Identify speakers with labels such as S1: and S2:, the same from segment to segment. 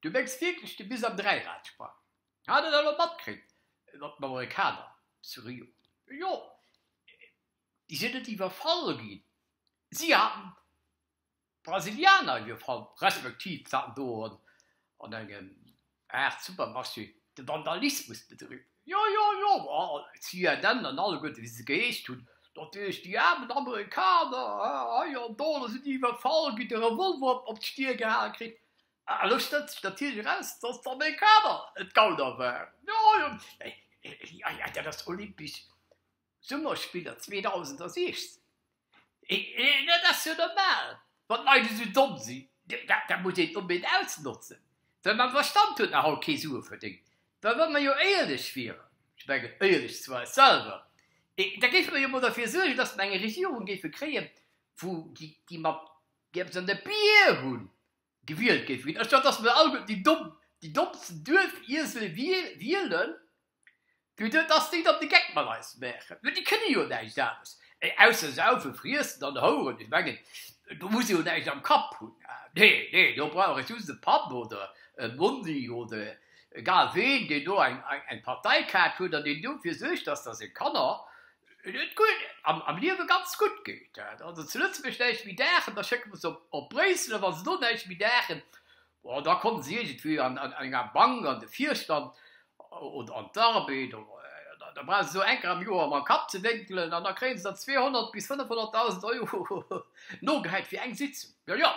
S1: Du mengs wierklech de Bis am Dräirad Sprang? Hat et elo matkritt mat den Amerikaner zu Rio? Jo, déi sinn net iwwerfall ginn, si haten d'Brasilianer iwwerfall, respektiv se haten do an engem Aart Supermarché de Vandalismus bedriwwen. Jo, jo, jo, ma CNN an alleguerte wéi se geheescht hunn, natierlech déi aarmen Amerikaner hei an do, do sinn déi iwwerfall ginn, de Revolver op d'Stier gehal kritt, Ah, elo stellt sech natierlech eraus, dass der meng Kader et gauder war. Jo, jo, jo, jo, dat ass Olympisch Summerspiller 2016. Hee, dat ass jo normal, wann d'Leit esou domm sinn. Dat muss een onbedéngt ausnotzen, well mam Verstand huet nach haut kee Sue verdéngt. Well wa mer jo éierlech wieren, ech mengen éierlech zu eis selwer, da géife mer jo emol derfir suergen, dass mer eng Regierung géife kréien, wou déi mat eppes an der Bier hunn. Gewielt géif ginn, anstatt datt mer alleguerten déi domm, déi dommsten Duerfiesele wielen, fir duer datt déi dann de Geck mat eis maachen. Well déi kënne jo näischt anescht, ausser saufen, friessen an houeren. Ech mengen, do muss ee jo näischt am Kapp hunn. Nee, nee, do brauch ech just e Papp oder e Mondi oder egal ween, deen do eng Parteikaart huet an deen dofir suergt, datt da seng Kanner Et huet guer am Liewe ganz gutt geet. Hat also zu Lëtzebuerg näischt méi Daachen, da schécke mer se op Bréissel. A wa se do näischt méi Daachen, bon, da komme se iergendwéi an enger Bank an de Virstand oder an d'Arbed. Da brauche se sou eng Kéier am Joer mam Kapp ze wénkelen an da kréie se dann 200 bis 500.000 Euro nogehäit fir eng Sitzung. Jo, jo,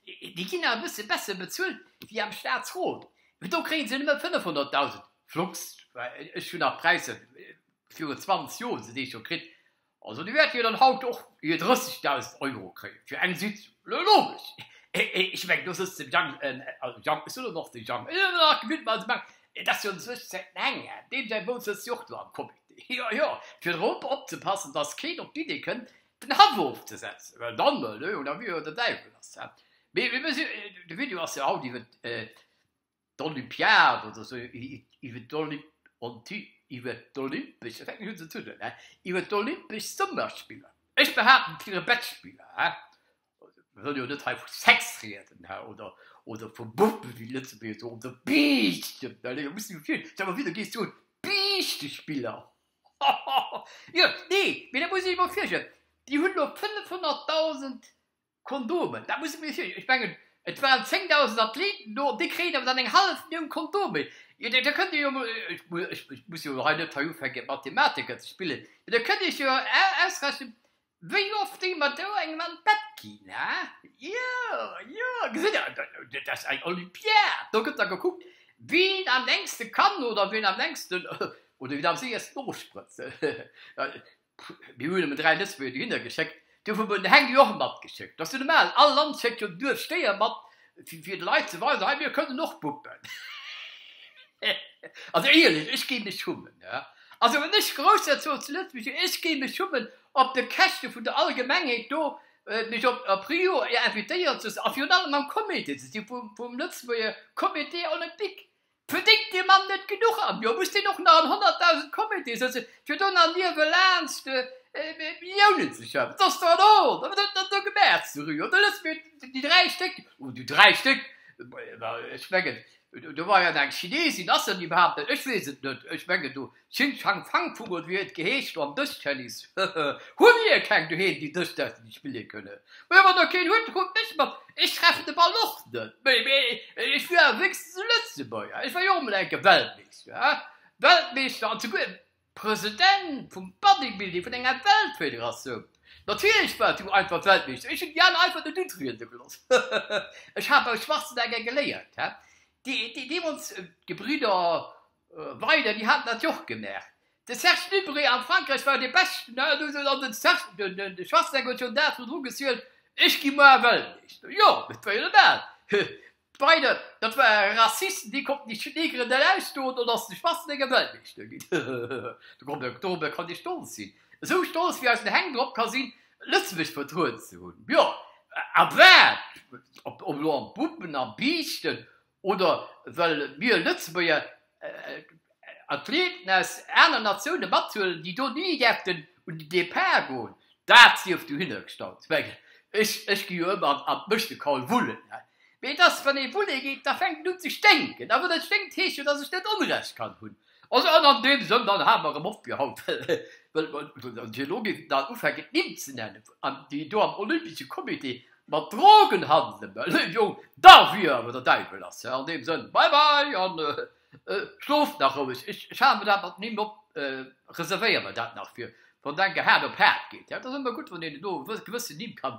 S1: déi ginn awer e bësse besser bezuelt wéi am Staatsrot, mee do kréie se nëmme 500.000, flugs, well ech hunn nach Präisser Viru 20 Joer se déi scho kritt, also du wärt jo dann haut och hier 30.000 Euro kréien fir eng Sitzung. Logesch, ech mengen do sëtzt de Jang, also Jang, ech soen och de Jang, et ass jo an sech säi menge, deem säi Bou sëtzt jo och do am Comité, jo jo, fir drop opzepassen, dass keen op d'Idee kënnt den Haff ofzesetzen, well dann, elo, da wier jo de Däiwel ass dat. Mee de Video ass jo haut iwwert d'Olympiad oder sou, iwwert d'Olympesch, ech weess net, wéi se et huet, hä, iwwert d'Olympesch Summerspiller, ech behaapten, d'wiere Bettspiller, hä, ech wëll jo net hei vu Sex rieden, hä, oder, oder vu Buppen, wéi déi Lëtzebuerger soen, oder Biischten, well elo muss ech mech virstellen, stell mer vir, do géiss du un, Biischtespiller, hohoho, jo, nee, mee da muss ech mer virstellen, déi hunn elo 500.000 Kondomen, dat muss ee mech fir. Ech mengen, et waren 10.000 Athleten do, an déi kréien awer dann eng hallef Millioun Kondomen. Jo, da kënnt Dir jo emol, ech muss, ech muss jo hei net hei ufänken, Mathematiker ze spillen, mee da kënnt Dir Iech jo ausrechnen, wéi oft déi mat esou engem an d'Bett ginn, ha? Jo, jo, gesitt Der, dat ass eng Olympiad. Do gëtt da gekuckt, wien am längste kann oder wien am längsten oder wien am séiersten ofsprëtzt. Mir hunn emol dräi Lëtzebuerger dohinner geschéckt. Dofir hu mer de Heng jo och matgeschéckt. Dat ass jo normal. All Land schéckt jo duerch Stéier mat, fir de Leit ze weisen, hei, mir kënnen och puppen. Also éierlech, ech géi mech schummen. Also wann ech Grousserzog zu Lëtzebuerg wier, ech géi mech schummen, op de Käschte vun der Allgemengheet do mech op Rio invitéieren ze loossen a virun allem am Comité ze sinn vum lëtzebuerger Comité olympique. Verdéngt dee Mann net genuch am Joer? Muss deen och nach an 100.000 Comitéë sëtzen, fir do nach niewelaanscht de Milliounen ze schaffen? Dat ass der an Ord! Wat huet der do gemaach zu Rio? Do loosse mir déi dräi Stéck, oh, déi dräi Stéck, ech mengen, do war jo nach eng Chineesin, ass dat iwwerhaapt net, ech weess et net, ech mengen do, Xing Shang Fang Vugel wéi et geheescht an dëst Tennis hehe hu mir keng doheem déi dëst däerfen nit spille kënne mee wann der keen huet da kommt mech mat ech treffen de ball och net méi mee ech wier awer wéinstens e lëtzebuerger ech war jo och mol enke weltmeeschter he weltmeeschter an souguer e president vum bodybuilding vun enger weltfederatioun natierlech war du einfach weltmeeschter ech hunn déi aner einfach net utriede geloss hehe ech hat beim schwarzenegger geléiert he déi deemools d'gebridder Weider, Déi haten dat jo och gemaach. De Serge Nubret a Frankräich war dee Beschten, an de Schwarzenegg huet schonn d'Ae virdru gezielt, Ech gi muer ewell nees. Jo, dat war jo normal. Weider, Dat ware Rassisten, déi konnten déi Negeren net ausstoen, also ass de Schwarzenegg ewell nees do ginn. Dorobber kann Dir stolz sinn, esou stolz, wéi eisen Heng drop ka sinn, Lëtzebuerg vertrueden ze hunn. Jo, a wat? Op elo am Bumpen, am Biischten, Oder well mir Lëtzebuerger Athleten aus aneren Natioune mathuelen, déi do ni däerften un den Depart goen. Dat sief dohinner gestallt. Ech gi jo ëmmer an d'Mëschtekall wullen. Mee et ass, wann ee wulle geet, da fänkt et un ze sténken. A wann et sténkt, heescht dat, datt ech net Onrecht kann hunn. Also, an an deem Sënn, dann hale mer erëm op fir haut, well an der Logik dann ufänken et Nimm ze nennen, an déi do am Olympesche Comité mat Drogen handelen, mä lëe Jong, da wier awer der Däiwel lass he, an deem Sënn, bye bye an schlooft nach roueg. Ech hale mer dat mat den Nimm op, reservéiere mer dat nach fir wann et eng Haard op Haard geet. Dat ass ëmmer gutt, wann een do e gewëssen Nimm kann